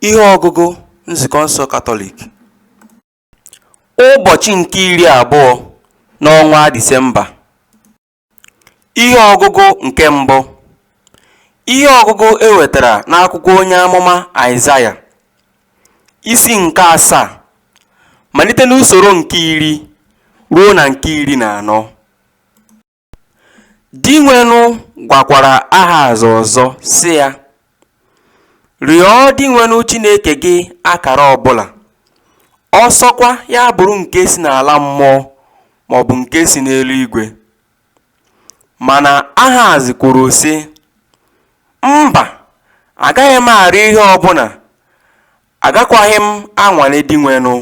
Ihe ọgụgụ Nzukọ nsọ Katọlik Ụbọchị nke iri abụọ n'ọnwa Disemba Ihe ọgụgụ nke mbụ Ihe ọgụgụ e wetara n'akwụkwọ onye amụma Aịzaya isi nke asaa malite n'usoro nke iri ruo na nke iri na anọ. Dinwenụ gwakwara Ahaz ọzọ sị ya, Rịọ Dinwenụ Chineke gị akara ọbụla, ọsọkwa ya bụrụ nke si n'ala mmụọ maọbụ nke si n'eluigwe. Mana Ahaz kwuru sị, Mba, agaghị m arịọ ihe ọbụla, agakwaghị m anwale Dinwenụ.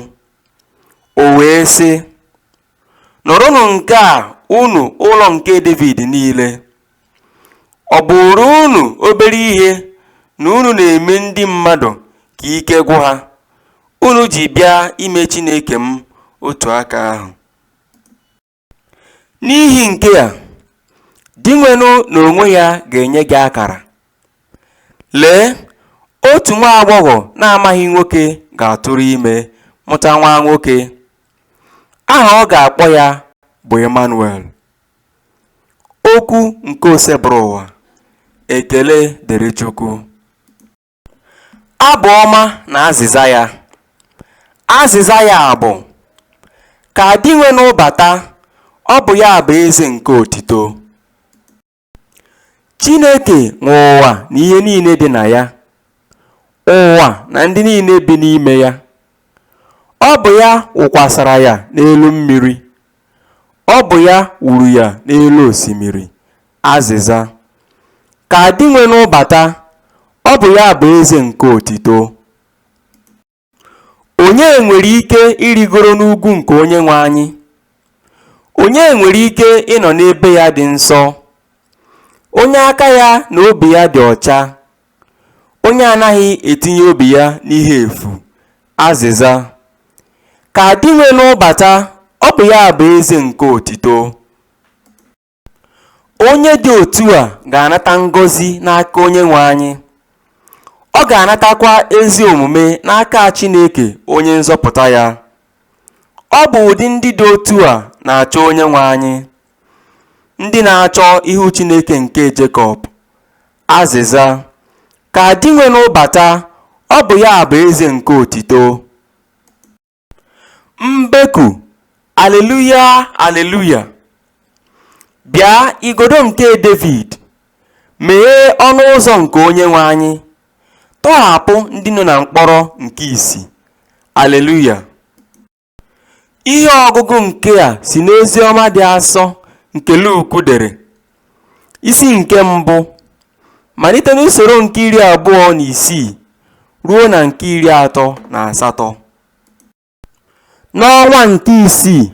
O wee sị, nụrụnụ nke a unu ụlọ nke Devid niile ọ bụụrụ unu obere ihe na unu na-eme ndị mmadụ ka ike gwụ ha unu ji bịa ime Chineke m otu aka ahụ n'ihi nke a dinwenụ n'onwe ya ga-enye gị akara lee otu nwa agbọghọ na-amaghị nwoke ga-atụrụ ime mụta nwa nwoke Aha ọ ga-akpọ ya bụ Emmanuel. Okwu nke Osebụrụwa. Ekele dịrị Chukwu. Abụ ọma na azịza ya. Azịza ya bụ Ka dinwenụ bata, ọ bụ ya bụ eze nke otito. Chineke nwe ụwa na ihe niile dị na ya, ụwa na ndị niile bi n'ime ya. Ọ bụ ya wụkwasara ya n'elu mmiri, ọ bụ ya wuru ya n'elu osimiri. Azịza. Ka Dinwenụ bata, ọ bụ ya bụ eze nke otito. Onye nwere ike irigoro n'ugwu nke Onyenwe anyị? Onye nwere ike ịnọ n'ebe ya dị nsọ? Onye aka ya na obi ya dị ọcha, onye anaghị etinye obi ya n'ihe efu. Azịza. Ka dinwenụ bata, ọ bụ ya bụ eze nke otito. Onye dị otu a ga-anata ngọzi n'aka Onyenwe anyị, ọ ga-anatakwa ezi omume n'aka Chineke Onye nzọpụta ya. Ọ bụ ụdị ndị dị otu a na-achọ Onyenwe anyị, ndị na-achọ ihu Chineke nke Jekọb. Azịza, Ka dinwenụ bata, ọ bụ ya bụ eze nke otito. Mbeku, Aleluya, aleluya! Bịa, igodo nke Devid, meghee ọnụ ụzọ nke Onyenwe anyị, tọghapụ ndị nọ na mkpọrọ nke isi. Aleluya! Ihe ọgụgụ nke a si n'Oziọma dị asọ nke Luk dere. Isi nke mbụ, malite n'usoro nke iri abụọ na isii ruo na nke iri atọ na asatọ. N'ọnwa nke isii,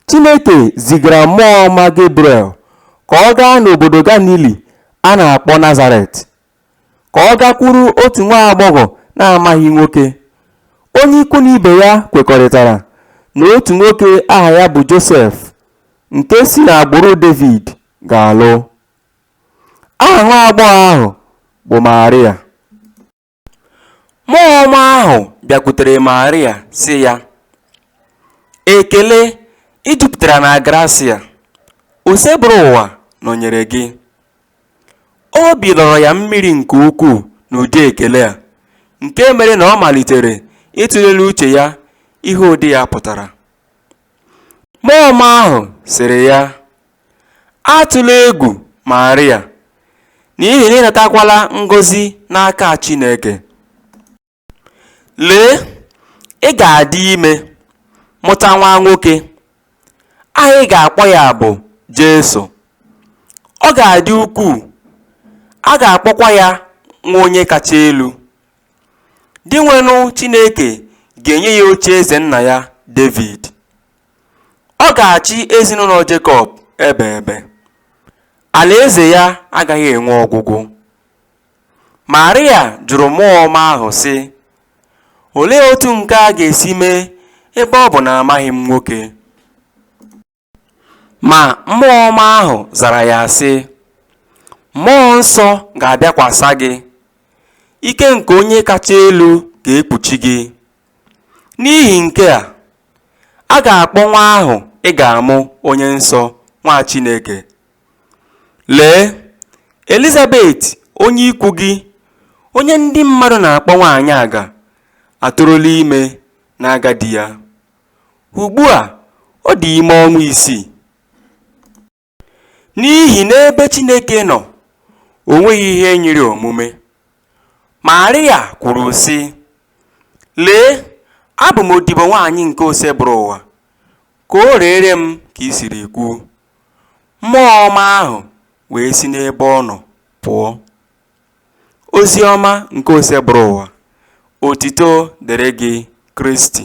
Chineke zigara mmụọ ọma Gebriel ka ọ gaa n'obodo Galili a na-akpọ Nazaret ka ọ gakwuru otu nwa agbọghọ na-amaghị nwoke. Onye ikwu na ibe ya kwekọrịtara na otu nwoke aha ya bụ Josef nke si n'agbụrụ Devid ga-alụ. Aha nwa agbọghọ ahụ bụ Maria. Mmụọ ọma ahụ bịakwutere Maria sị ya, Ekele, ị jupụtara na grasịa, Osebụrụwa nọnyere gị. Obi lọrọ ya mmiri nke ukwuu n'ụdị ekele a, nke mere na ọ malitere ịtụle n'uche ya ihe ụdị ya pụtara. Mmụọ ọma ahụ sịrị ya, Atụla egwu, Maria, n'ihi na ị natakwala ngọzi n'aka Chineke. Lee, ị ga-adị ime, mụta nwa nwoke. Aha ị ga-akpọ ya bụ Jesu. Ọ ga-adị ukwuu, a ga-akpọkwa ya Nwa Onye Kacha Elu. Dinwenụ Chineke ga-enye ya ocheeze nna ya Devid. Ọ ga-achị ezinụlọ Jekọb ebe ebe. Alaeze ya agaghị enwe ọgwụgwụ. Marịa jụrụ Mmụọ Ọma ahụ sị, Olee otu nke a ga-esi mee ebe ọ bụ na amaghị m nwoke? Ma Mmụọ Ọma ahụ zara ya sị, Mmụọ Nsọ ga-abịakwasa gị, ike nke Onye Kacha Elu ga-ekpuchi gị. N'ihi nke a, a ga-akpọ nwa ahụ ị ga-amụ Onye Nsọ, Nwa Chineke. Lee, Elizabet onye ikwu gị, onye ndị mmadụ na-akpọ nwaanyị aga, atụrụla ime n'agadi ya. Ugbu a, ọ dị ime ọnwa isii. N'ihi n'ebe Chineke nọ, o nweghị ihe nyịrị omume. Marịa kwuru sị, Lee, abụ m odibo nwaanyị nke Osebụrụwa, ka o reere m ka i siri kwuo. Mmụọ ọma ahụ wee si n'ebe ọ nọ pụọ. Ozi ọma nke Osebụrụwa, otito dịrị gị Kristi.